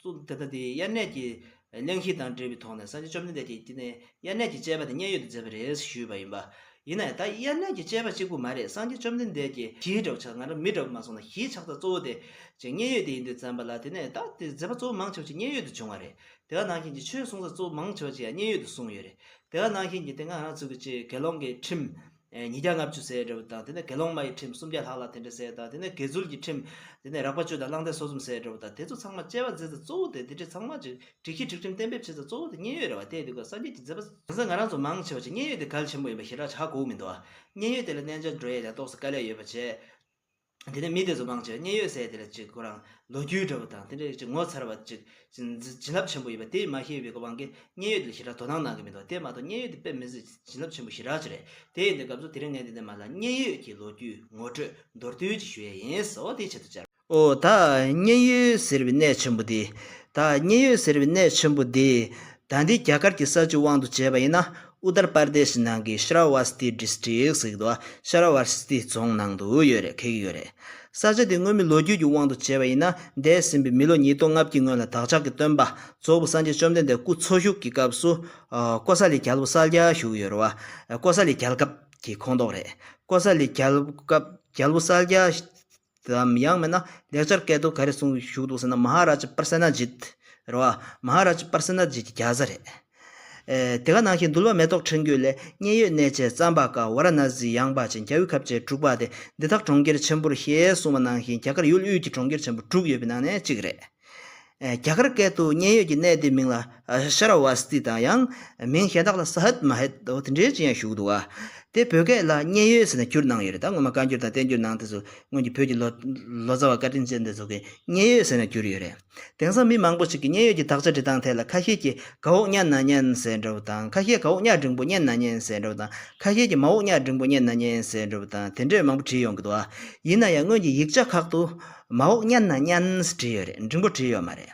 སུ་དེ་ལྟ་སྟེ་དབྱར་གནས་ཀྱི་གླེང་གཞི་དང་འབྲེལ་བའི་ཐོག་ནས་སངས་རྒྱས་བཅོམ་ལྡན་འདས་ཀྱིས་དེ་ནི་དབྱར་གནས་ཀྱི་སྤྱད་པ་དེ་མཉན་ཡོད་དུ་མཛད་པ་རེད་ཞུས་པ་ཡིན་པ། ཡིན་ནའི་ད་དབྱར་གནས་ཀྱི་སྤྱད་པ་གཅིག་པུ་མ་རེད་སངས་རྒྱས་བཅོམ་ལྡན་འདས་ཀྱིས་གཞིའི་གྲོགས་ཆགས་ང་རང་མི་གྲོགས་མ་སོང་ན་གཞིའི་ཆགས་སྟངས་གཙོ་བོ་དེ་ཅིག་མཉན་ཡོད་དེ་ཡིན་དུས་བརྩམས་པ་ལ་དེ་ནས་ད་ལྟའི་མཛད་པ་གཙོ་བོ་མང་ཆེ་བ་ཅིག་མཉན་ཡོད་དུ་བྱུང་བ་རེད་དེ་ག་ནང་བཞིན་གྱི་ཆོས་གསུང་ས་གཙོ་བོ་མང་ཆེ་བ་ཅིག་ཡང་མཉན་ཡོད་དུ་གསུངས་ཡོད་རེད་དེ་ག་ནང་བཞིན་གྱི་དེ་སྔ་ང་ཚོ་གི་སྤྱིའི་དགེ་སློང་གི་ཁྲིམས། ཉིས་བརྒྱ་ལྔ་བཅུ་ཟེར་བའི་འབྲས་བུ་དང་དེ་ནས་དགེ་སློང་མ་ཡི་ཁྲིམས་སུམ་བརྒྱ་ལྷག་ལ་དེ་འདྲ་ཟེར་དང་དེ་ནས་དགེ་ཚུལ་གྱི་ཁྲིམས། དེ་ནས་རགས་པ་གཅོད་དང་བླང་དད་སོ་གསུམ་ཟེར་བའི་འབྲས་བུ་དང་དེ་ཚོ་ཚང་མ་དཔྱད་པ་མཛད་ཚེ་གཙོ་བོ་དེ་དེ་འདྲའི་ཚང་མ་ཅིག་འགྲིག་ཤེས་འགྲིག་ཁྲིམས་གཏན་འབེབས་བྱེད་ཚེ་གཙོ་བོ་དེ་མཉན་ཡོད་རེ་བ་བལྟས་འདུག་ག་སངས་རྒྱས་ཀྱི་མཛད་པ། དེང་སང་ང་རང་ཚོ་མང་ཆེ་བ་ཅིག་མཉན་ཡོད་དེ་གལ་ཆེན་པོ་ཡིན་པ་ཞེ་དྲག་བྱ་གོ་འོ་མི་འདུག་ག། མཉན་ཡོད་དེ་ལ་གནས་འཇའ་འགྲོ་ཡས་ཀྱང་རྟོགས་སུ་དཀའ་ལས་ཡོད་པ་བྱས། དེ་ནས་མི་དེ་ཚོ་མང་ཆེ་བ་མཉན་ཡོད་སའི་དེ་ལ་ཅིག་ཁོ་རང་ལོ་རྒྱུས་འདྲ་བོ་དང་དེ་འདྲའི་ཅིག་ངོ་མཚར་བ་ཅིག་བྱིན་རླབས་ཆེན་པོ་ཡོད་པ་དེ་མ་ཤེས་པའི་གོ་འཕང་གིས་མཉན་ཡོད་དེ་ལ་ཞེ་དྲག་དོ་སྣང་གནང་གི་མི་འདུག་དེ་མ་གཏོགས་མཉན་ཡོད་དེ་དཔེ་མི་སྲིད་བྱིན་རླབས་ཆེན་པོ་ཞེ་དྲག་ཅིག་རེད་དེ་ཡིན་དུས་སྐབས་སུ་དེ་རིང་ངས་འདི་ནས་མ་ལ་མཉན་ཡོད་ཀྱི་ལོ་རྒྱུས་ངོ་སྤྲོད་མདོར་བསྡུས་ཅིག་ཞུ་ཡས་ཡིན་ཟོ་དེའི་ཆེད་དུ་བཅར། ཨོ། ད་མཉན་ཡོད་ཟེར་བའི་གནས་ཆེན་པོ་འདི། ད་མཉན་ཡོད་ཟེར་བའི་གནས་ཆེན་པོ་འདི། ད་འདི་རྒྱ་གར་གྱི་ས་བཅུ་དབང་དུ་བྱས་པ་ཡིན་ན། Uttar Pradesh ནང་གི Shravasti District ཟེར་གི་འདུག Shravasti རྫོང་ནང་དུ་ཡོད་རེད་ཁེལ་གི་ཡོད་རེད། ས་ཆ་དེ་སྔོན་མི་ལོ་རྒྱུས་ཀྱི་དབང་དུ་བྱས་པ་ཡིན་ན་འདས་ཟིན་པའི་མི་ལོ་ཉིས་སྟོང་ལྔ་བརྒྱའི་སྔོན་ལ་བདག་ཅག་གི་སྟོན་པ་རྫོགས་པ་སངས་རྒྱས་བཅོམ་ལྡན་འདས་སྐུ་འཚོ་བཞུགས་ཀྱི་སྐབས་སུ། ཀོ་ས་ལི་རྒྱལ་པོ་སལ་རྒྱལ་བཞུགས་ཡོད་རེད་བ། ཀོ་ས་ལི་རྒྱལ་སྐབས་ཀྱི་ཁོངས་གཏོགས་རེད། ཀོ་ས་ལི་རྒྱལ་སྐབས་རྒྱལ་པོ་སལ་རྒྱལ། དམ་དབྱངས་མེད་ན་ལེགས་སྦྱར་སྐད་དུ་ག་རེ་གསུངས་བཞུགས་འདུག་ཟེར་ན་མ་ཧཱ་རཱ་ཇཱི་པར་སེ་ན་ཇིད། རེད་བ། མ་ཧཱ་རཱ་ཇཱི་པར་སེ་ན་ཇིད་ཀྱི་བརྒྱ་རྩ་རེད། དེ་ག་ནང་བཞིན་འདུལ་བ་མེ་ཏོག་ཕྲེང་རྒྱུད་ལས་མཉན་ཡོད་གནས་བཅས་བརྩམས་པ་ཀ་བཱ་ར་ནཱ་ཛིའི་ཡང་བ་ཅན་རྒྱ་དབུས་ཁབ་ཅན་དྲུག་པ་སྟེ་འདི་དག་གྲོང་ཁྱེར་ཆེན་པོར་ཞེས་གསུངས་པ་ནང་བཞིན་རྒྱ་གར་ཡུལ་དབུས་ཀྱི་གྲོང་ཁྱེར་ཆེན་པོ་དྲུག་ཡོད་པའི་ནང་ནས་གཅིག་རེད། རྒྱ་གར་སྐད་དུ་མཉན་ཡོད་ཀྱི་གནས་དེའི་མིང་ལ་ཤར་བ་སི་ཏི་དང་ཡང་མིང་གཞན་དག་ལ་སཱ་ཧད་མཱ་ཧད་དེ་འདྲའི་ཅི་ཡང་བཞུགས་འདུག་ཨ། དེ་བོད་སྐད་ལ་མཉན་ཡོད་ཟེར་ནས་བསྒྱུར་གནང་ཡོད་རེད་ད་སྔོན་མ་བཀའ་འགྱུར་དང་བསྟན་འགྱུར་ནང་དེ་ཚོ་སྔོན་གྱི་བོད་ཀྱི་ལོ་ཙཱ་བ་བཀའ་དྲིན་ཅན་དེ་ཚོ་གིས་མཉན་ཡོད་ཟེར་ནས་བསྒྱུར་ཡོད་རེད། དེང་སང་མི་མང་པོ་ཞིག་གིས་མཉན་ཡོད་ཀྱི་དག་ཆ་འབྲི་སྟངས་ཐད་ལ་ཁ་ཤས་ཀྱིས་ག་འོག་གཉའ་ན་མཉན་ཟེར་འདྲ་བོ་དང་ཁ་ཤས་ག་འོག་གཉའ་འབྲིང་པོ་མཉན་ན་མཉན་ཟེར་འདྲ་བོ་དང་ཁ་ཤས་ཀྱིས་མ་འོག་གཉའ་འབྲིང་པོ་མཉན་ན་མཉན་ཟེར་འདྲ་བོ་དང་དེ་འདྲས་མང་པོ་བྲིས་ཡོང་གི་འདུག་ཨ། ཡིན་ན་ཡང་སྔོན་གྱི་ཡིག་ཆ་ཁག་ཏུ། མ་འོག་བརྙན་ན་བརྙན་བྲིས་ཡོད་རེད་འབྲིང་པོ་བྲིས་ཡོད་མ་རེད།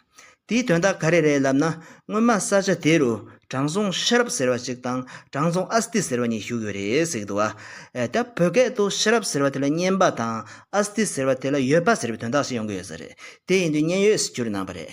དེའི་དོན་དག་ག་རེ་རེད་ལབ་ན་སྔོན་མ་ས་ཆ་དེ་རུ་དྲང་སྲོང་ཤེས་རབ་ཟེར་བ་ཞིག་དང་དྲང་སྲོང་ཨ་སྟི་ཟེར་བ་གཉིས་བཞུགས་ཡོད་རེད་ཟེར་གི་འདུག་ཨ། ད་བོད་སྐད་དུ་ཤེས་རབ་ཟེར་བ་དེ་ལ་བརྙན་པ་དང་ཨ་སྟི་ཟེར་བ་དེ་ལ་ཡོད་པ་ཟེར་བའི་དོན་དག་ཞིག་ཡོང་གི་ཡོད་ས་རེད་དེ་ཡིན་དུས་བརྙན་ཡོད་ཟེར་རྒྱུར་སྣང་བ་རེད།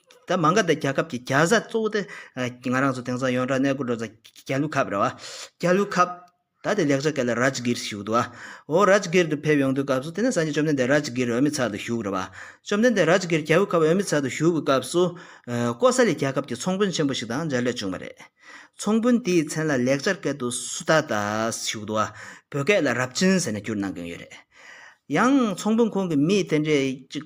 ད་མ་འགའ་དེ་རྒྱ་ཁབ་ཀྱི་རྒྱ་བཟའ་གཙོ་བོ་དེ་ང་རང་ཚོ་དེང་སང་ཡོན་གྲགས་གནས་སྐོར་འགྲོ་ས་རྒྱ་ལུ་ཁབ་རེད་བ། རྒྱ་ལུ་ཁབ། ད་དེ་ལེགས་ཆ་གལ་ལ་རཱཇ་གྷིར་ཞུགས་འདུག་བ། འོ་རཱཇ་གྷིར་དུ་ཕེབས་ཡོང་དུས་སྐབས་སུ་དེ་ནས་སང་ཉིན་བཅོམ་ལྡན་འདས་རཱཇ་གྷིར་འོས་མི་ཚག་ཏུ་ཞུགས་རེད་བ། བཅོམ་ལྡན་འདས་རཱཇ་གྷིར་རྒྱ་ལུ་ཁབ་འོས་མི་ཚག་ཏུ་ཞུགས་པའི་སྐབས་སུ། ཀོ་ས་ལི་རྒྱལ་ཁབ་ཀྱི་ཚོང་དཔོན་ཆེན་པོ་ཞིག་དང་མཇལ་འཕྲད་བྱུང་བ་རེད། ཚོང་དཔོན་དེའི་མཚན་ལ་ལེགས་ཆར་སྐད་དུ་སུ་ད་ད་ཞུགས་འདུག་བ། བོད་སྐད་ལ་རབ་ཆེན་ཟེར་ནས་བསྒྱུར་གནང་གིན་ཡོད་རེད། ཡང་ཚོང་དཔོན་ཁོང་གི་མི་དེ་འདྲས་ཅིག།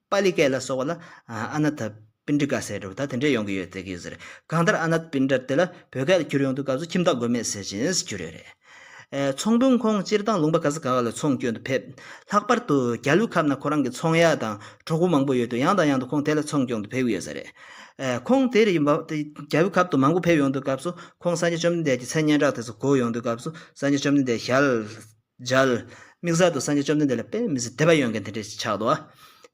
པཱ་ལི་སྐད་ལ་སོགས་པ་ལ་ཨ་ནཱ་ཐ་པིན་དྲི་ཀ་ཟེར་འགྲོ་བ་ད་དེ་འདྲས་ཡོང་གི་ཡོད་ཟེར་གྱི་ཡོད་ཟེར་གང་ལྟར་ཨ་ནཱ་ཐ་པིན་དྲི་དེ་ལ་བོད་སྐད་ལ་འཁྱུར་ཡོང་དུས་སྐབས་སུ་ཁྱིམ་བདག་དགོས་མེད་ཟེར་བཞིན་འཁྱུར་ཡོད་རེད། ཚོང་དཔོན་ཁོང་སྤྱིར་བཏང་ལུང་པ་ག་ས་ག་ག་ལ་ཚོང་སྐྱོན་དུ་ཕེབས། ལྷག་པར་དུ་རྒྱ་ལུགས་ཁབ་ན་ཁོ་རང་གི་ཚོང་ཡ་དང་གྲོགས་པོ་མང་པོ་ཡོད་དུས་ཡང་དང་ཡང་དུ་ཁོང་དེ་ལ་ཚོང་སྐྱོང་དུ་ཕེབས་གི་ཡོད་ས་རེད། ཁོང་དེ་རི་ཡོད་རྒྱ་བོད་ཁབ་ཏུ་མང་པོ་ཕེབས་ཡོང་དུས་སྐབས་སུ་ཁོང་སངས་རྒྱས་བཅོམ་ལྡན་འདས་ཀྱི་མཚན་སྙན་གྲགས་དེ་ཚོ་གོ་ཡོང་དུས་སྐབས་སུ་སངས་རྒྱས་བཅོམ་ལྡན་འདས་ཞལ་སྦྱར། མིག་གཟར་དུ་སངས་རྒྱས་བཅོམ་ལྡན་འདས་ལ་དཔེ་མི་སྲིད་དེ་བ་ཡོད་མཁན་དེ་འདྲས་ཆགས་འདུག་ཨ།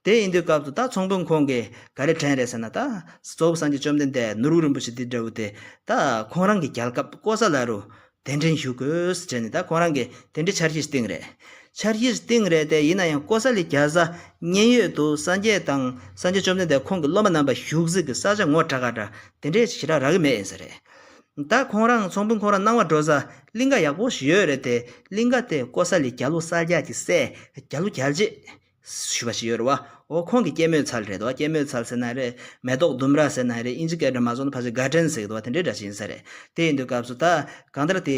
དེ་ཡིན་དུས་སྐབས་དུ་ད་ཚོང་དཔོན་ཁོང་གིས་ག་རེ་དྲན་རེད་ཟེར་ན་ད། གཙོ་བོ་སངས་རྒྱས་བཅོམ་ལྡན་འདས་ནོར་བུ་རིན་པོ་ཆེ་འདི་འདྲ་བོ་དེ། ད། ཁོང་རང་གི་རྒྱལ་ཁབ་ལྐོག་ཟ་ལ་རུ། གདན་འདྲེན་ཞུ་དགོས་ཟེར་ནས་ད་ཁོང་རང་གིས་དེ་འདྲའི་འཆར་གཞིར་བཏིང་རེད། འཆར་གཞིར་བཏིང་རེད་དེ་ཡིན་ན་ཡང་ལྐོག་ཟ་ལས་རྒྱལ་བཟའ། མཉན་ཡོད་དུ་སངས་རྒྱས་དང་སངས་རྒྱས་བཅོམ་ལྡན་འདས་ཁོང་གི་སློབ་མ་རྣམ་པ་བཞུགས་གཟིགས་ཀྱི་ས་ཆ་ངོ་དྲག་ག་འདྲ་དེ་འདྲས་ཞིག་ཞིག་རག་གི་མེད་ཡིན་ས་རེད། ད་ཁོང་རང་ཚོང་དཔོན་ཁོང་རང་སྣང་བ་འགྲོ་ས་གླིང་ཀ་ཡག་པོ་ཞིག་ཡོད་རེད་དེ་གླིང་ཀ་དེ་ཀོ་ས་ལི་རྒྱ་ལུ་གསར་རྒྱག་གི་སའི་རྒྱ་ལུ་རྒྱལ་རྗེས་ཞུས་པ་ཞིག་ཡོད་རེད་བ་ཨོ་ཁོང་གི་སྐྱེད་མོས་ཚལ་རེད་དོ་སྐྱེད་མོས་ཚལ་ཟེར་ན་རེད་མེ་ཏོག་ལྡུམ་ར་ཟེར་ན་རེད་དབྱིན་ཇི་སྐད་སྒྲ་མ་བཟོ་ན་ཕ་ཟེར་དགའ་ལྡན་ཟེར་གི་འདུག་བ་དེ་འདྲའི་སྒྲ་ཤིག་ཡིན་ས་རེད་དེ་ཡིན་དུས་སྐབས་སུ་ད་གང་ལྟར་དེ་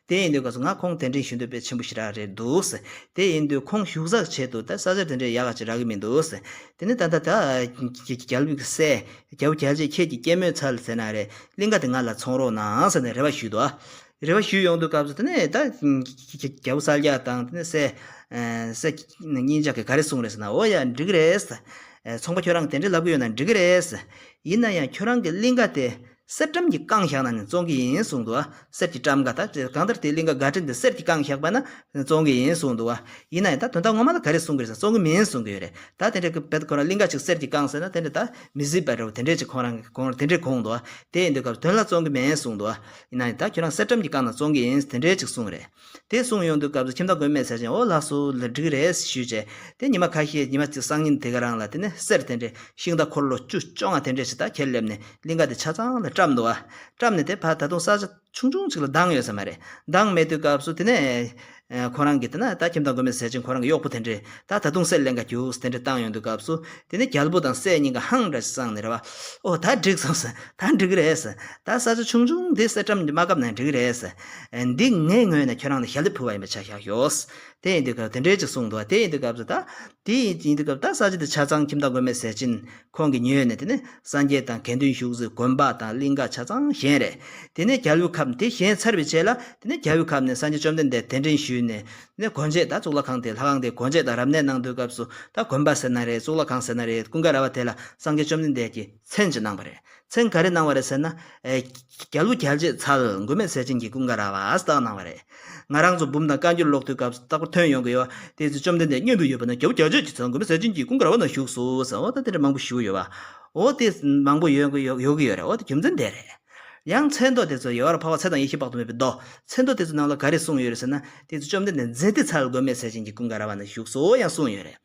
དེ་ཡིན་དུས་ག་ཚོད་ང་ཁོང་དེ་འདྲའི་ཞུ་འདོད་པའི་ཆེན་པོ་ཞིག་རག་རེད་འདུག་དེ་ཡིན་དུས་ཁོང་ཞུ་གཟག་བྱས་འདུག་ད་ས་ཆ་དེ་འདྲའི་ཡག་ཅིག་རག་གི་མི་འདུག་དེ་ནི་ད་ལྟ་ད་རྒྱལ་བུ་གསལ་རྒྱལ་བུ་རྒྱལ་རྗེས་ཁྱེད་ཀྱི་སྐྱེད་མོས་ཚལ་ཟེར་ན་རེ་གླིང་ཁ་དེ་ང་ལ་འཚོང་རོགས་གནང་ཟེར་ནས་རེ་བ་ཞུས་འདུག་རེ་བ་ཞུས་ཡོང་འདུག་སྐབས་དེ་ནས་ད་རྒྱལ་བུ་གསལ་རྒྱལ་དང་དེ་ནས་གསལ་གསལ་གཉིས་ཅག་གིས་ག་རེ་གསུངས་རེད་ཟེར་ན་འོ་ཡ་འགྲིག་གི་རེད་ཚོང་པ་ཁྱོད་རང་གི་དེ་འདྲའི་ལབ་གི་ཡོད་ན་འགྲིག་གི་རེད་ཡིན་ན་ཡང་ཁྱོད་རང་གི་གླིང་ཁ་དེ་གསེར་སྦྲམ་གྱི་རྐང་བཞག་ན་ནི་བཙོང་གི་ཡིན་གསུངས་འདུག་གསེར་གྱི་སྦྲམ་འགའ་ད་གང་ལྟར་དེའི་གླིང་ག་འགའ་དྲན་ཏེ་གསེར་གྱི་རྐང་བཞག་པ་ན་བཙོང་གི་ཡིན་གསུངས་འདུག་ཡིན་ན་ཡང་ད་དོན་དག་ངོ་མ་ལ་ག་རེ་གསུང་གི་རེད་ཟེར་བཙོང་གི་མིན་གསུང་གི་ཡོད་རེད་ད་དེ་འདྲའི་གི་བལ་ཁོ་རང་གླིང་ག་ཅིག་གསེར་གྱི་རྐང་ཟེར་ན་དེ་འདྲ་ད་མི་གཟིགས་པ་རེད་བོ་དེ་འདྲས་ཅིག་ཁོང་རང་གི་གོང་ར་དེ་འདྲས་གོང་འདུག་དེ་ཡིན་དུས་སྐབས་དོན་ལ་བཙོང་གི་མེད་གསུངས་འདུག་ཡིན་ན་ཡང་ད་ཁྱོད་རང་གསེར་སྦྲམ་གྱི་རྐང་ན་བཙོང་གི་ཡིན་ཟེར་དེ་འདྲས་ཅིག་གསུང་གི་རེད། དེ་གསུངས་ཡོང་དུས་སྐབས་སུ་ཁྱིམ་བདག་མགོན་མེད་ཟེར་ཅིང་ཨོ་ལགས་སུ་ལ་འགྲིག་རེད་ཞུས་རྗེས། དེ་ཉི་མ་ཁ་ཤས་ཉི་མ་གཅིག་སང་ཉིན་དེ་ག་རང་ལ་དེ་ནས་གསེར་དེ་འདྲས་ཤིང་རྟ་འཁོར་ལོ་བཅུ་བཅོ་ལྔ་དེ་འདྲས་ཞིག་དག་ཁྱེར་སླེབས་ནས་གླིང་ག་དེ་ཆ་ཚང་ལ་བཀྲམས་འདུག་ཨ། བཀྲམས་ནས་དེ་ཕར་ད་དུང་ས་ཆ་ཆུང་ཆུང་ཅིག་ལ་འདང་ཡོད་ས་མ་རེད། འདང་མེད་དུས་སྐབས་སུ་དེ་ནས། ཁོ་རང་གིས་དེ་ན་ད་ཁྱིམ་བདག་མགོན་མེད་ཟེར་ཅིང་ཁོ་རང་གི་གཡོག་པོ་དེ་འདྲས་དག་ད་དུང་གསེར་གླེང་ག་རྒྱུགས་དེ་འདྲས་བཏང་ཡོང་དུས་སྐབས་སུ། དེ་ནས་རྒྱལ་པོ་དང་སྲས་གཉིས་ཀ་ཧང་འདྲ་ཞིག་བསྲངས་ནས་རེ་བ། ཨོ་ད་འགྲིག་སོང་ཟེར། ད་འགྲིག་རེད་ཟེར། ད་ས་ཆ་ཆུང་ཆུང་འདི་གསེར་བཀྲམ་རྒྱུ་མ་གབ་ན་འགྲིག་རེད་ཟེར། འདི་ངའི་ངོས་ནས་ཁྱོད་རང་ལ་ཞལ་འདེབས་ཕུལ་བ་ཡིན་པ་ཆ་ཤག་ཤོགས། དེ་ཡིན་དུས་སྐབས་དེ་འདྲའི་ཅིག་གསུངས་འདུག་ཨ་དེ་ཡིན་དུས་སྐབས་སུ་ད། དེ་ཡིན་དུས་སྐབས་ད་ས་ཆ་དེ་ཆ་ཚང་ཁྱིམ་བདག་མགོན་མེད་ཟས་སྦྱིན་ཁོང་གིས་ཉོས་ནས་དེ་ནས་སངས་རྒྱས་དང་དགེ་འདུན་བཞུགས་གཟིགས་དགོན་པ་དང་གླིང་ག་ཆ་ཚང་གཞན་རེད། དེ་ནས་རྒྱལ་བོའི་ཁབ་དེ་གཞན་ཚར་བའི་ཆེད་ལ་དེ་ནས་རྒྱལ་བོའི་ཁབ་ནས་སངས་རྒྱས་བཅོམ་ལྡན་འདས་གདན་འདྲེན་ཞུས་ནས་དེ་ནས་དགོན་ཆས་ད་གཙུག་ལག་ཁང་དེ་ལྷ་ཁང་དེ་དགོན་ཆས་ད་རབ་གནས་གནང་དུས་སྐབས་སུ་ད་དགོན་པ་ཟེར་ན་རེད་གཙུག་ལག་ཁང་ཟེར་ན་རེད་ཀུན་དགའ་ར་བ་དེ་ལ་སངས་རྒྱས་བཅོམ་ལྡན་འདས་ཀྱིས། མཚན་ཅི་གནང་བ་རེད། མཚན་ག་རེ་གནང་བ་རེད་ཟེར་ན། རྒྱ་ལུགས་རྒྱལ་གཅེས་ཚ་ལ་མགོན་མེད་ཟས་སྦྱིན་གྱི་ཀུན་དགའ་ར་བ་ཨ་སྟག་གནང་བ་རེད། ང་རང་ཚོ་འབུམ་དང་བཀའ་འགྱུར་ཀློག་དུས་སྐབས་སུ་རྟག་པར་ཐོན་ཡོང་གི་ཡོད། དེའི་ཚེ་བཅོམ་ལྡན་འདས་སྙན་པོས་ཡོད་པ་ན་རྒྱལ་བུ་རྒྱལ་གཅེས་ཀྱི་ཚ་ལ་མགོན་མེད་ཟས་སྦྱིན་གྱི་ཀུན་དགའ་ར་བ་ན་བཞུགས་སོ་ཟེར་འོ་ད་དེ་འདྲ་མང་པོ་ཞུ་ཡོད། འོ་དེ་མང་པོ་ཡོད་ཀྱི་ཡོད་རེད་འོ་དེ་རྒྱུ་མཚན་འདས་རེད། ཡང་མཚན་མདོ་དེ་ཚོ་ཡལ་བར་འཕགས་པ་ཚེ་དང་ཡེ་ཤེས་དཔག་ཏུ་མེད་པའི་མདོ། མཚན་མདོ་དེ་ཚོའི་ནང་ལ་ག་རེ་གསུངས་ཡོད་རེད་ཟེར་ན། དེའི་ཚེ་བཅོམ་ལྡན་འདས་མཛེས་སྡེ་ཚ་ལ་མགོན་མེད་ཟས་སྦྱིན་གྱི་ཀུན་དགའ་ར་བ་ན་བཞུགས་སོ་ཡང་གསུངས་ཡོད་རེད།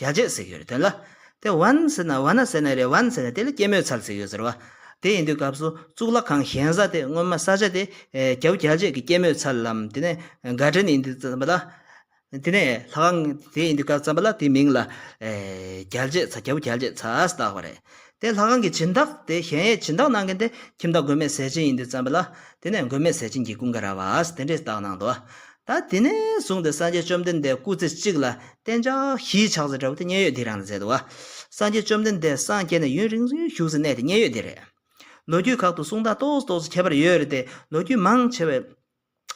རྒྱ་ཆད་ཟེར་གྱི་ཡོད་རེད་དོན་ལ། དེ་བན་ཟེར་ན་བ་ན་ཟེར་ན་རེད་བན་ཟེར་ན་དེ་ལ་སྐྱེད་མོས་ཚལ་ཟེར་གྱི་ཡོད་ཟེར་བ། དེ་ཡིན་དུས་སྐབས་སུ་གཙུག་ལག་ཁང་གཞན་ས་དེ་སྔོན་མ་ས་ཆ་དེ་རྒྱ་བོ་རྒྱ་བྱེད་ཀྱི་སྐྱེད་མོས་ཚལ་ལམ་དེ་ནས་འགའ་དྲན་ཡིན་དུས་བརྩམས་པ་ལ། དེ་ནས་ལྷ་ཁང་དེ་ཡིན་དུས་སྐབས་བརྩམས་པ་ལ་དེའི་མིང་ལ་རྒྱལ་བྱེད་ཚ་རྒྱ་བོ་རྒྱལ་བྱེད་ཚ་ཟེར་བཏགས་པ་རེད། དེ་ལྷ་ཁང་གི་བྱིན་བདག་དེ་གཞན་ཡས་བྱིན་བདག་གནང་མཁན་དེ་ཁྱིམ་བདག་མགོན་མེད་ཟས་སྦྱིན་ཡིན་དུས་བརྩམས་པ་ལ། དེ་ནས་མགོན་མེད་ཟས་སྦྱིན་གྱིས་ཀུན་དགའ་ར་བས་དེ་འདྲའི་རྟགས་གནང་དོ། ད་དེ་ནས་བཟུང་སྟེ་སངས་རྒྱས་བཅོམ་ལྡན་འདས་སྐུ་ཚེ་གཅིག་ལ་བསྟན་བྱ་གཞིའི་ཕྱག་མཛོད་འདྲ་བོ་དེ་མཉན་ཡོད་འདི་རང་ལ་མཛད་དོ། སངས་རྒྱས་བཅོམ་ལྡན་འདས་སངས་རྒྱས་ནས་ཡུན་རིང་བཞུགས་སའི་གནས་དེ་མཉན་ཡོད་འདི་རེད། ལོ་རྒྱུས་ཁག་ཏུ་གསུང་དག་ཏོག་ཏོག་སུ་ཁྱད་པར་ཡོད་རེད་དེ་ལོ་རྒྱུས་མང་ཆེ་བས།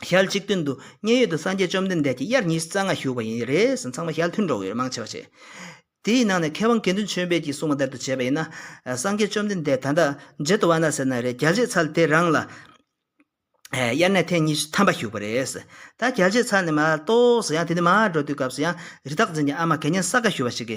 ཞལ་གཅིག་མཐུན་དུ་མཉན་ཡོད་དུ་སངས་རྒྱས་བཅོམ་ལྡན་འདས་ཀྱིས་དབྱར་ཉི་རྩ་ལྔ་བཞུགས་པ་ཡིན་རེ་ཟུང་ཚང་མ་ཞལ་མཐུན་འགྲོགས་ཡོད་མང་ཆེ་བ་བྱེད། དེའི་ནང་ནས་མཁས་དབང་དགེ་འདུན་ཆོས་འཕེལ་གྱིས་གསུངས་པ་ལྟར་དུ་བྱས་པ་ཡིན་ན། སངས་རྒྱས་བཅོམ་ལྡན་འདས་ད་ལྟ་ཇེ་དུ་བ་ན་ཟེར་ན་རེད་རྒྱལ་གཅེས་ཚར་དེ་རང་ལ་དབྱར་གནས་ཐེངས་གཉིས་ཐམ་པ་བཞུགས་པ་རེད། ད་རྒྱལ་གཅེས་ཚར་ནས་མ་གཏོགས་སུ་ཡང་དེ་ནས་མ་འགྲོ་དུས་སྐབས་སུ་ཡང་རི་དྭགས་འཛིན་གྱི་ཨ་མ་གད་སྙན་ས་ག་ཞུ་བ་ཞིག་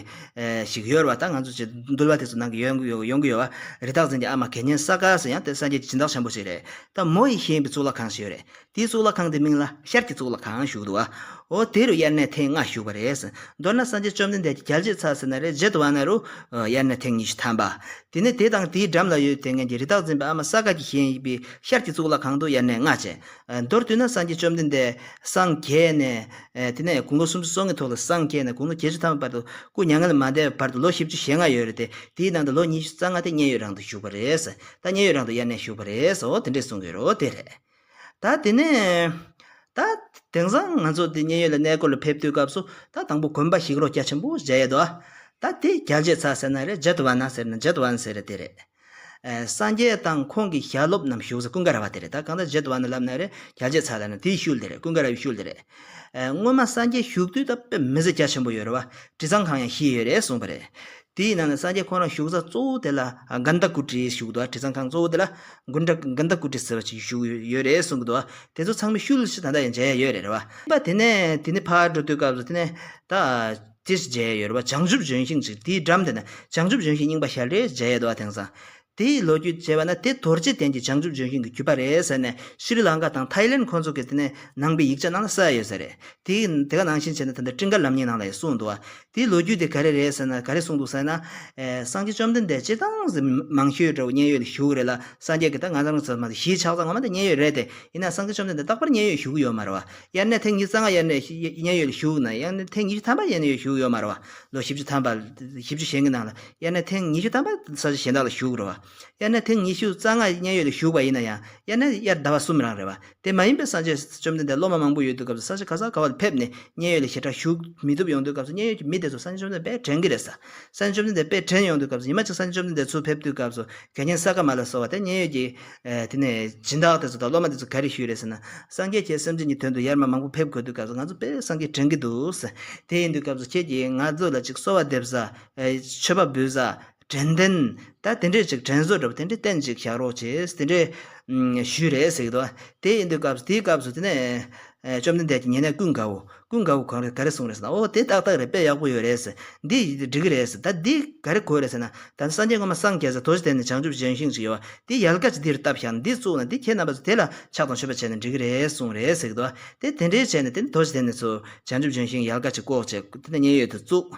ཞིག་ཡོད་རེད་བ་ད་ང་ཚོ་འདུལ་བ་དེ་ཚོ་ནང་གི་ཡོང་གི་ཡོད་བ་རི་དྭགས་འཛིན་གྱི་ཨ་མ་གད་སྙན་ས་ག་སུ་ཡང་དེ་སངས་རྒྱས་ཀྱི་སྦྱིན་བདག་ཆེན་པོ་ཞིག་རེད། ད་མོ་ཡིས་ཤེས་པའི་གཙུག་ལག་ཁང་ཞིག་ཡོད་རེད། དེའི་གཙུག་ལག་ཁང་དེའི་མིང་ལ་ཤར་གྱི་གཙུག་ལག་ཁང་བཞུགས་འདུག་བ། འོ་དེ་རུ་དབྱར་གནས་ཐེངས་ལྔ་བཞུགས་པ་རེད། མདོར་ན་སངས་རྒྱས་བཅོམ་ལྡན་འདས་ཀྱི་རྒྱལ་གཅེས་ཚར་ཟེར་ན་རེ་བརྗེད་བ་ན་རུ། དབྱར་གནས་ཐེངས་ཉི་ཤུ་ཐམ་པ། དེ་ནས་དེ་དང་དེའི་འགྲམ་ལ་ཡོད་དེ་ངེད་ཀྱི་རི་དྭགས་འཛིན་པའི་ཨ་མ་ས་དགའ་གྱིས་བཞེངས་ཡིག་པའི་ཤར་གྱི་གཙུག་ལག་ཁང་དུ་དབྱར་གནས་ལྔ་བྱས། མདོར་བསྡུས་ན་སངས་རྒྱས་བཅོམ་ལྡན་འདས་སངས་རྒྱས་ནས། དེ་ནས་དགུང་ལོ་སུམ་ཅུ་སོ་ལྔའི་ཐོག་ལ་སངས་རྒྱས་ནས་དགུང་ལོ་བརྒྱད་ཅུ་ཐམ་པའི་བར་དུ་སྐུ་མྱ་ངན་ལས་མ་འདས་པའི་བར་དུ་ལོ་བཞི་བཅུ་ཞེ་ལྔ་ཡོད་རེད་དེ། དེའི་ནང་དུ་ལོ་ཉི་ཤུ་རྩ་ལྔ་དེ་མཉན་ཡོད་རང་དུ་བཞུགས་པ་རེད། ད་ཉེ་ཡོད་རང་དུ་དབྱར་གནས་བཞུགས་པ་རེད་སོ་དེ་འདྲས་གསུང་གི་རོ་དེ་རེད། ད་དེ་ནས། ད། དེང་སང་ང་ཚོ་དེ་ཉེ་ཡོད་ལ་གནས་སྐོར་ལ་ཕེབས་དུས་སྐབས་སུ་ད་དང་པོ་དགོན་པ་ཞིག་རོ་སྐྱ་ཆེན་པོ་བཞེད་ཡོད་དོ། ད་དེ་རྒྱལ་གཅེས་ཚ་ཟེར་ན་རེད་ཇེད་ཝན་ན་ཟེར་ན་ཇེད་ཝན་ཟེར་དེ་རེད། སངས་རྒྱས་དང་ཁོང་གི་ཞལ་སློབ་རྣམས་བཞུགས་ས་ཀུན་དགའ་ར་བ་དེ་རེད་ད་གང་ལྟར་ཇེད་ཝན་ན་ལབ་ན་རེད་རྒྱལ་གཅེས་ཚ་ལ་ན་དེའི་ཤུལ་དེ་རེད་ཀུན་དགའ་ར་བའི་ཤུལ་དེ་རེད། སྔོན་མ་སངས་རྒྱས་བཞུགས་དུས་ད་དཔེ་མི་ཟེར་སྐྱ་ཆེན་པོ་ཡོད་ར་བ་དྲི་བཟང་ཁང་ཡང་ཤི་ཡོད་རེད་གསུང་པ་རེད། དེའི་ནང་ནས་སངས་རྒྱས་འཁོར་རང་བཞུགས་ས་གཙོ་བོ་དེ་ལ་དགའ་ཟླ་སྐུ་དྲིའི་བཞུགས་སྡོད་དྲི་བཟང་ཁང་གཙོ་བོ་དེ་ལ་དགུན་དགྲ་དགའ་ཟླ་སྐུ་དྲི་ཟེར་བ་ཞིག་བཞུགས་ཡོད་རེད་གསུངས་གི་འདུག་དེ་ཚོ་ཚང་མས་ཤུལ་བཞག་ད་ལྟ་ཡང་མཇལ་ཡ་ཡོད་རེད་བ། དེ་ནས་དེ་ནས་ཕར་འགྲོ་དུས་སྐབས་སུ་དེ་ནས་ད་སྤྱིར་མཇལ་ཡ་ཡོད་རེད་བ་བྱང་ཆུབ་ལྗོན་ཤིང་ཞིག་དེའི་འགྲམ་དེ་ན་བྱང་ཆུབ་ལྗོན་ཤིང་རྙིང་པ་ཞལ་རས་མཇལ་ཡ་འདུག་བ་དེང་སང་དེ་ཡི་ལོ་རྒྱུས་ཅེས་པ་ན་དེ་དོར་རྗེས་དྲན་གྱི་བྱང་ཆུབ་ལྗོན་ཤིང་གི་རྒྱུད་པ་རེད་ཟེར་ནས་ཤི་རི་ལང་ཀ་དང་ཐའི་ལེན་ཁོ་ཚོ་གི་དེ་ནས་ནང་པའི་ཡིག་ཆ་ནང་ལ་གསལ་ཡོད་ཟེར། དེ་དེ་ག་ནང་བཞིན་བྱས་ན་ད་ལྟ་སྤྲིན་དཀར་ལམ་གཉིས་ནང་ལ་ཡང་གསུངས་འདུག་བ། དེའི་ལོ་རྒྱུས་དེ་ག་རེ་རེད་ཟེར་ན་ག་རེ་གསུངས་འདུག་ཟེར་ན། སངས་རྒྱས་བཅོམ་ལྡན་འདས་སྤྱིར་བཏང་གཟིགས་མི་མང་ཤོས་འདྲ་བོ་མཉན་ཡོད་ལ་བཞུགས་རེད་ལ་སངས་རྒྱས་ཀྱི་ད་ང་ཚང་གི་ཚོ་མ་གཞིས་ཆགས་ཚང་ངོ་མ་དེ་མཉན་ཡོད་རེད་དེ། ཡིན་ནའང་སངས་རྒྱས་བཅོམ་ལྡན་འདས་རྟག་པར་མཉན་ཡོད་བཞུགས་ཀྱི་ཡོད་མ་རེད་བ། དབྱར་གནས་ཐེངས་ཉི་རྩ་ལྔ་དབྱར་གནས་མཉན་ཡོད་ལ་བཞུགས་ན་དབྱར་གནས་ཐེངས་ཉི་ཤུ་ཐམ་པ་མཉན་ཡོད་བཞུགས་ཡོད་མ་རེད་བ། ལོ་བཞི་བཅུ་ཐམ་པ། བཞི་བཅུ་ཞེ་འགའི་ནང་ལ། དབྱར་གནས་ཐེངས་ཉི་ཤུ་ཐམ་པ་ས་ཆ་གཞན་དག་ལ་བཞུགས་རོ། དབྱར་གནས་ཐེངས་ཉི་ཤུ་རྩ་ལྔ་མཉན་ཡོད་ལ་བཞུགས་པ་ཡིན་ན་ཡང་དབྱར་གནས་དབྱར་ཟླ་བ་གསུམ་རང་རེད་བ། དེ་མ་ཡིན་པའི་ས་ཆ་བཅོམ་ལྡན་འདས་སློབ་མ་མང་པོ་ཡོད་དུས་སྐབས་སུ་ས་ཆ་ག་ས་ག་བ་ལ་ཕེབས་ནས་མཉན་ཡོད་ལ་ཞེ་དྲག་བཞུགས་མི་ཐུབ་ཡོང་དུས་སྐབས་སུ་མཉན་ཡོད་ཀྱི་མི་དེ་ཚོ་ས་ཆ་བཅོམ་ལྡན་འདས་དཔལ་དྲན་གྱི་རེད། ས་ཆ་བཅོམ་ལྡན་འདས་དཔལ་དྲན་ཡོང་དུས་སྐབས་སུ་ཉི་མ་གཅིག་ས་ཆ་བཅོམ་ལྡན་འདས་ཚུར་ཕེབས་དུས་སྐབས་སུ་གད་རྒྱན་ས་ག་མ་ལ་སོགས་བ་དེ་མཉན་ཡོད་ཀྱི་དེ་ནས་སྦྱིན་བདག་དེ་ཚོ་དང་སློབ་མ་དེ་ཚོ་ག་རེ་ཞུས་རེད་ཟེར་ན་སངས་རྒྱས་ཁྱེད་སེམས་ཅན་གྱི་དོན་དུ་ཡར་མར་མང་པོ་ཕེབས་དགོས་དུས་སྐབས་སུ་ང་ཚོ་དཔལ་སངས་རྒྱས་དྲན་གྱི་འདུག། དེ་ཡིན་དུས་སྐབས་སུ་ཁྱེད་ཀྱིས་ང་ཚོ་ལ་ཅིག་གསོལ་བ་འདེབས་ས། མཆོད་པ་འབུལ་ས་དྲན་རྟེན་ད་དེ་འདྲས་ཅིག་དྲན་གསོ་འདྲ་པོ་དེ་འདྲས་བསྟན་ཅིག་བཞག་རོགས་བྱས་དེ་འདྲས་ཞུས་རེད་ཟེར་གྱི་འདུག་དེ་ཡིན་དུས་སྐབས་དེའི་སྐབས་སུ་དེ་ནས་བཅོམ་ལྡན་འདས་ཀྱིས་ཉེ་གནས་ཀུན་དགའ་བོ་ཀུན་དགའ་བོ་གང་རེད་ག་རེ་གསུངས་རེད་ཟེར་ན་ཨོ་དེ་ཏག་ཏག་རེད་དཔེ་ཡག་པོ་ཡོད་རེད་ཟེར་འདི་ཡིན་དུས་འགྲིག་གི་རེད་ཟེར་ད་འདི་ག་རེ་གོ་རེད་ཟེར་ན་ད་ནི་སངས་རྒྱས་སྔ་མ་སངས་རྒྱས་ཟེར་དོ་ཅི་དེ་ནི་བྱང་ཆུབ་སྦྱང་ཤིང་ཅིག་ཡོད་དེ་ཡལ་ག་ཅིག་འདིར་བཏབ་བཞག་ན་འདི་བཙུགས་ན་འདི་ཁྱེད་རྣམ་པ་ཚོ་དེ་ལ་ཕྱག་དང་མཆོད་པ་བྱས་ན་འགྲིག་གི་རེད་གསུངས་རེད་ཟེར་གྱི་འདུག་དེ་དེ་འདྲས་བྱས་ནས་དེ་ནི་དོ་ཅི་དེ་ནི་ཚོ་བྱང་ཆུབ་སྦྱང་ཤིང་ཡལ་ག་ཅིག་བཀོག་བྱས་དེ་ནས་མཉན་ཡོད་དུ་བཙུགས་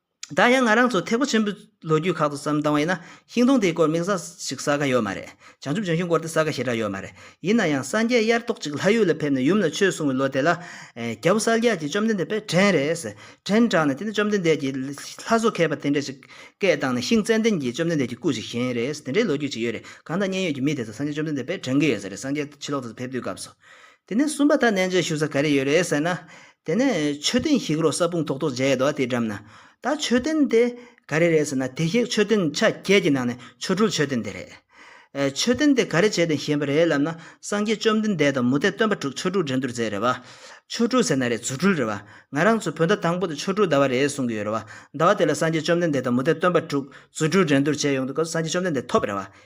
ད་ཡང་ང་རང་ཚོ་ཐེག་པ་ཆེན་པོའི་ལོ་རྒྱུས་ཁག་ཏུ་བསམ་བཏང་བ་ཡིན་ན་ཤིང་སྡོང་དེའི་སྐོར་དམིགས་བསལ་ཞིག་གསལ་ཁ་ཡོད་མ་རེད། བྱང་ཆུབ་ལྗོན་ཤིང་སྐོར་དེ་གསལ་ཁ་ཞེ་དྲག་ཡོད་མ་རེད། ཡིན་ན་ཡང་སངས་རྒྱས་དབྱར་ཐོག་ཅིག་ལྷ་ཡུལ་ལ་ཕེབས་ནས་ཡུམ་ལ་ཆོས་གསུང་བའི་ལོ་དེ་ལ། རྒྱལ་པོ་གསལ་རྒྱལ་གྱིས་བཅོམ་ལྡན་འདས་དཔལ་བྲན་རེད། བྲན་དྲངས་ནས་དེ་ནས་བཅོམ་ལྡན་འདས་ཀྱིས་ལྷ་བཟོ་མཁས་པ་དེ་འདྲ་ཞིག་སྐད་བཏང་ནས་ཤིང་ཙནྡན་གྱིས་བཅོམ་ལྡན་འདས་ཀྱི་སྐུ་ཞིག་བཞེངས་རེད་དེ་འདྲའི་ལོ་རྒྱུས་ཅིག་ཡོད་རེད། གང་ལྟར་མཉན་ཡོད་ཀྱི་མི་དེ་ཚོ་སངས་རྒྱས་བཅོམ་ལྡན་འདས་དཔལ་བྲན་གྱི་ཡོད་ས་རེད་སངས་རྒྱས་ཕྱི་ལོག་ཏུ་ཕེབས་དུས་སྐབས་སུ། དེ་ནས་གསུམ་པ་ད་གནས་མཇལ་ཞུ་ས་ག་རེ་ཡོད་རེད་ཟེར་ན། དེ་ནས་མཆོད་རྟེན་ཞིག་རོ་ས་སྤུངས་ཐོག་ཐོག་མཇལ་ཡོད་དེའི་འགྲམ་ན། ད་མཆོད་རྟེན་དེ་ག་རེ་རེད་ཟེར་ན་དེ་ཞིག་མཆོད་རྟེན་ཆ་བརྒྱད་ཀྱི་ནང་ནས་ཆོ་འཕྲུལ་མཆོད་རྟེན་དེ་རེད། མཆོད་རྟེན་དེ་ག་རེ་བྱས་ཏེ་བཞེངས་པ་རེད་ལབ་ན་སངས་རྒྱས་བཅོམ་ལྡན་འདས་དང་མུ་སྟེགས་སྟོན་པ་དྲུག་ཆོ་འཕྲུལ་འགྲན་བསྡུར་མཛད་རེད་བ། ཆོ་འཕྲུལ་ཟེར་ན་རེད་རྫུ་འཕྲུལ་རེད་བ། ང་རང་ཚོའི་བོད་ཟླ་དང་པོ་དེ་ཆོ་འཕྲུལ་ཟླ་བ་རེད་གསུངས་ཀྱི་ཡོད་རེད་བ། ཟླ་བ་དེ་ལ་སངས་རྒྱས་བཅོམ་ལྡན་འདས་དང་མུ་སྟེགས་སྟོན་པ་དྲུག་རྫུ་འཕྲུལ་འགྲན་བསྡུར་བྱས་ཡོང་དུས་སྐབས་སུ་སངས་རྒྱས་བཅོམ་ལྡན་འདས་ཐོབ་རེད་བ།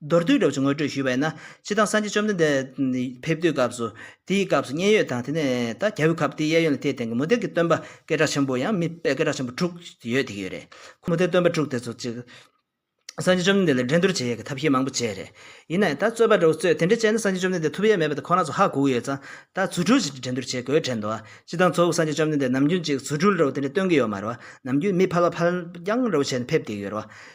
མདོར་བསྡུས་སྒྲུབ་བྱེད་ངོ་སྤྲོད་ཞུས་པ་ཡིན་ན། སྤྱི་བཏང་སངས་རྒྱས་བཅོམ་ལྡན་འདས་ཕེབས་དུས་སྐབས་སུ། དེའི་སྐབས་སུ་མཉན་ཡོད་དང་དེ་ནས་ད་གྱ་བོད་ཁབ་དེའི་གཡས་གཡོན་ལ་དེའི་སྟེང་གི་མུ་སྟེགས་ཀྱི་སྟོན་པ་སྐད་གྲགས་ཆེན་པོ་ཡང་མི་དཔེ་སྐད་གྲགས་ཆེན་པོ་དྲུག་ཡོད་དེ་གི་ཡོད་རེད། ཁོ་མུ་སྟེགས་སྟོན་པ་དྲུག་དེ་ཚོ་གཅིག། སངས་རྒྱས་བཅོམ་ལྡན་འདས་ལ་འགྲན་བསྡུར་བྱེད་ཡས་ཀྱི་ཐབས་ཤེས་མང་པོ་སྤྱད་རེད། ཡིན་ནའི་ད་རྩོད་པ་འདྲ་བོ་རྩོད་དེ་འདྲ་སྤྱད་ན་སངས་རྒྱས་བཅོམ་ལྡན་འདས་ཐུབ་ཡས་མེད་པ་དེ་ཁོ་ན་ཚོ་ཧ་གོ་གི་ཡོད་ཙང་ད་རྫུ་འཕྲུལ་གྱིས་འགྲན་བསྡུར་བྱེད་དགོས་དྲན་འདུག་སྤྱི་བཏང་གཙོ་བོ་སངས་རྒྱས་བཅོམ་ལྡན་འདས་ནམ་རྒྱུན་གཅིག་རྫུ་འཕྲུལ་འདྲ་བོ་དེ་འདྲ་སྟོན་གི་ཡོད་མ་རེད་བ། ནམ་རྒྱུན་མི་ཕལ་བ་ཕལ་རྐྱང་འདྲ་བོ་བྱས་ནས་ཕེབས་དེ་གི་ཡོད་རེད་བ།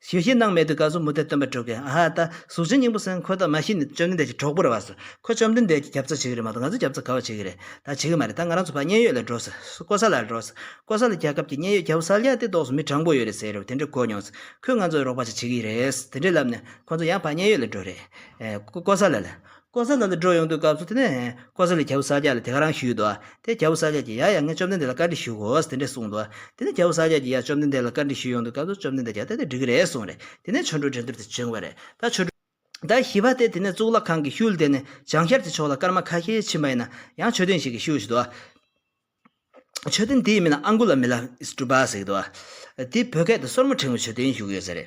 ཞེས་ཤིང་སྣང་མེད་དུ་བཀའ་སྲུང་མུ་སྟེགས་སྟོན་པའི་དྲུག་གི་ཨ་ཧ་ཏཱ་གཟུགས་ཅན་སྙིང་པོ་སེང་ཁོ་ད་མ་ཤི་ནས་བཅོམ་ལྡན་འདས་ཀྱི་གྲོགས་པོར་བབས་སོ། ཁོ་བཅོམ་ལྡན་འདས་ཀྱི་རྒྱབ་རྩ་བྱེད་ཀྱི་རེད་མ་གཏོགས་ང་ཚོའི་རྒྱབ་རྩ་ག་བ་བྱེད་ཀྱི་རེད་ད་བྱེད་ཀྱི་མ་རེད་ད་ང་རང་ཚོ་ཕ་མཉན་ཡོད་ལ་འགྲོ་ཟེར་ཀོ་ས་ལ་ལ་འགྲོ་ཟེར་ཀོ་ས་ལ་རྒྱལ་ཁབ་ཀྱི་མཉན་ཡོད་རྒྱལ་པོ་ས་ལ་ཡ་སྟེ་ལྡོག་སོང་མི་དྲང་པོ་ཡོད་རེད་ཟེར་རོ་དེ་འདྲས་གོ་མྱོང་ཟེར་ཁོས་ང་ཚོའི་རོགས་པ་ཅིག་བྱེད་ཀྱི་རེད་དེ་འདྲས་ལབ་ནས་ཁོ་ཚོ་ཡང་ཕ་མཉན་ཡོད་ལ་འགྲོ་རེད་ཀོ་ས་ལ་ལ། ཀོ་ས་ལ་ལ་འགྲོ་ཡོང་དུས་སྐབས་སུ་དེ་ནས་ཀོ་ས་ལའི་རྒྱལ་པོ་ས་སྐྱ་ལ་དེ་ག་རང་ཞུས་འདུག་དེ་རྒྱལ་པོ་ས་སྐྱ་ཀྱིས་ཡ་ཡ་ངས་བཅོམ་ལྡན་འདས་ལ་བཀའ་འདྲི་ཞུ་དགོས་དེ་འདྲས་གསུངས་འདུག་དེ་ནས་རྒྱལ་པོ་ས་སྐྱ་ཀྱིས་ཡ་བཅོམ་ལྡན་འདས་ལ་བཀའ་འདྲི་ཞུས་ཡོང་དུས་སྐབས་སུ་བཅོམ་ལྡན་འདས་ཀྱིས་ད་ལྟ་འདྲི་གི་རེད་གསུངས་རེད་དེ་ནས་ཆོ་འཕྲུལ་འགྲན་སྡུར་དེ་བྱུང་བ་རེད་ད་ཆོ་འཕྲུལ་ཟླ་བཞི་པ་སྟེ་དེ་ནས་གཙུག་ལག་ཁང་གི་ཤུལ་དེ་ནས་བྱང་ཤར་གྱི་ཕྱོགས་ལ་སྐར་མ་ཁ་ཤས་ཕྱིན་པ་ཡིན་ན་ཡང་མཆོད་རྟེན་ཞིག་གི་ཤུལ་ཞིག་འདུག་མཆོད་རྟེན་དེའི་མིང་ལ་ཨ་མགུ་ལ་མི་ལ་ཨིས་ཀྲུ་པཱ་ཟེར་གི་འདུག་དེའི་བོད་སྐད་དུ་སོར་མོ་ཕྲེང་བའི་མཆོད་རྟེན་བཞུགས་ཡོད་ཟེར།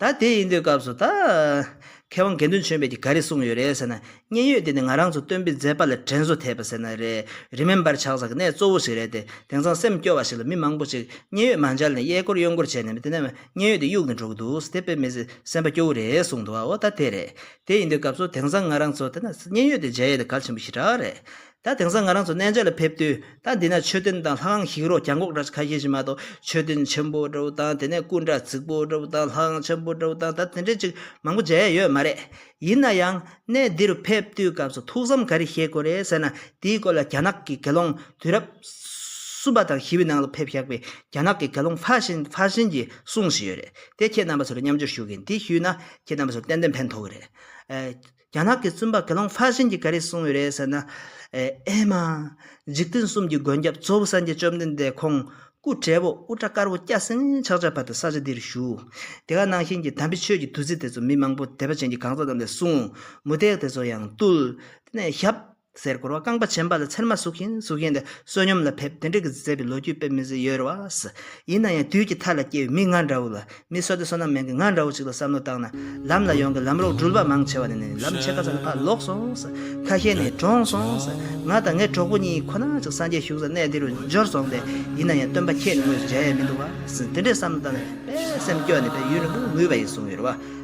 ད་དེ་ཡིན་དུས་སྐབས་སུ་ད། མཁས་དབང་དགེ་འདུན་ཆོས་འཕེལ་གྱིས་ག་རེ་གསུངས་ཡོད་རེད་ཟེར་ན། མཉན་ཡོད་དེ་ནི་ང་རང་ཚོ་སྟོན་པའི་མཛད་པ་ལ་དྲན་གསོ་ཐེབས་པ་ཟེར་ན་རེད། Remember ཆགས་ས་གི་གནས་གཙོ་བོ་ཞིག་རེད་དེ། དེང་སང་སེམས་སྐྱོ་བ་ཞིག་ལ་མི་མང་པོ་ཅིག་མཉན་ཡོད་མ་འཇལ་ནས་གཡས་སྐོར་གཡོན་སྐོར་བྱས་ནས་མི་དེ་ནས་མཉན་ཡོད་དེ་གཡུག་ནས་འགྲོ་གི་འདུག་ཟེར་དེ་དཔེ་མི་སེམས་པ་སྐྱོ་བོ་རེད་གསུངས་འདུག་བ་འོ་ད་དེ་རེད། དེ་ཡིན་དུས་སྐབས་སུ་དེང་སང་ང་རང་ཚོ་ད་ན་མཉན་ཡོད་དེ་མཇལ་ཡས་དེ་གལ་ཆེན་པོ་ཞིག་གྲགས་རེད། ད་དེང་སང་ང་རང་ཚོ་གནས་མཇལ་ལ་ཕེབས་དུས་ད་འདི་ན་ཆོས་སྟོན་དང་ལྷ་ཁང་ཞིག་རོ་གྱང་གོག་འདྲ་ཁ་ཤས་ཤིག་མ་གཏོགས་ཆོས་སྟོན་ཆེན་པོ་འདྲ་བོ་དང་དེ་ནས་སྐུ་འདྲ་རྫིག་པོ་འདྲ་བོ་དང་ལྷ་ཁང་ཆེན་པོ་འདྲ་བོ་དང་ད་དེ་འདྲའི་ཅིག་མང་པོ་མཇལ་ཡས་ཡོད་མ་རེད། ཡིན་ན་ཡང་གནས་འདི་རུ་ཕེབས་དུས་སྐབས་སུ་ཐུགས་བསམ་ག་རེ་བཞེས་དགོས་རེད་ཟེར་ན་དེའི་སྐོར་ལ་རྒྱ་ནག་གི་དགེ་སློང་དུས་རབས་གསུམ་པ་དང་བཞི་བའི་ནང་ལ་ཕེབས་བཞག་པའི་རྒྱ་ནག་གི་དགེ་སློང་ཕྷ་ཤིན་ཕྷ་ཤིན་གྱིས་གསུངས་བཞིན་ཡོད་རེད་དེ་ཁྱེད་རྣམ་པ་ཚོ་ལ་མཉམ་འཇོག་ཞུ་གིན་དེ་ཞུས་ན་ཁྱེད་རྣམ་པ་ཚོར་ཏན་ཏན་ཕན་ཐོགས་གི་རེད། རྒྱ་ནག་གི་བཙུན་པ་དགེ་སློང་ཧྥ་ཤན་གྱིས་ག་རེ་གསུངས་ཡོད་རེད་ཟེར་ན། ཨེ་མ། འཇིག་རྟེན་གསུམ་གྱི་མགོན་སྐྱབས་གཙོ་བོ་སངས་རྒྱས་བཅོམ་ལྡན་འདས་ཁོང་སྐུ་བགྲེས་པོ་དབུ་སྐྲ་དཀར་པོ་སྐྱ་སེང་ཕྱག་ཆ་བབས་ཏེ་ས་ཆ་འདིར་བཞུགས། དེ་ག་ནང་བཞིན་གྱི་དམ་པའི་ཆོས་ཀྱི་བདུད་རྩི་དེ་ཚོ་མི་མང་པོ་དད་པ་ཅན་གྱི་གང་ཟག་རྣམས་ལས་བསྲུང། མུ་སྟེགས་དེ་ཚོ་ཡང་བཏུལ། དེ་ནས་ཞབས། གསེར་བསྐོར་བ་རྐང་པ་བྱིན་པ་ལ་ཚེར་མ་ཟུག་བཞིན་གཟུགས་བཞིན་དེ་བསོད་སྙོམས་ལ་ཕེབས་དེ་འབྲི་གི་མཛད་པའི་ལོ་རྒྱུས་དཔེ་མི་བཟོད་ཡོད་རེད་བ། ཡིན་ན་ཡང་དུས་ཀྱི་མཐའ་ལ་སྐྱེ་བའི་མི་ང་འདྲ་བོ་ལ་མི་བསོད་དེ་བསོད་ནམས་མེད་མཁན་ང་འདྲ་བོ་ཅིག་ལ་བསམ་བློ་བཏང་ན་ལམ་ལ་ཡོང་གི་ལམ་རོགས་འགྲུལ་པ་མང་ཆེ་བ་ནས་ནས་ལམ་ཕྱེད་ཀ་ཙམ་ལ་ཕར་ལོག་སོང་ཁ་ཤས་ནས་གྲོངས་སོང་ང་དང་ངའི་གྲོགས་པོ་གཉིས་ཁོ་ན་ཅིག་སངས་རྒྱས་བཞུགས་ས་གནས་འདི་རུ་འབྱོར་སོང་སྟེ་ཡིན་ན་ཡང་སྟོན་པ་ཁྱེད་ནི་ངོས་སུ་མཇལ་ཡས་མི་འདུག་བ། དེ་འདྲའི་བསམ་བློ་བཏང་ནས་དཔེ་སེམས་སྐྱོ་ནས་དཔེ་ཡུལ་ལ་མི་ངུས་པ་ཡིན་གསུངས་ཡོད་རེད་བ།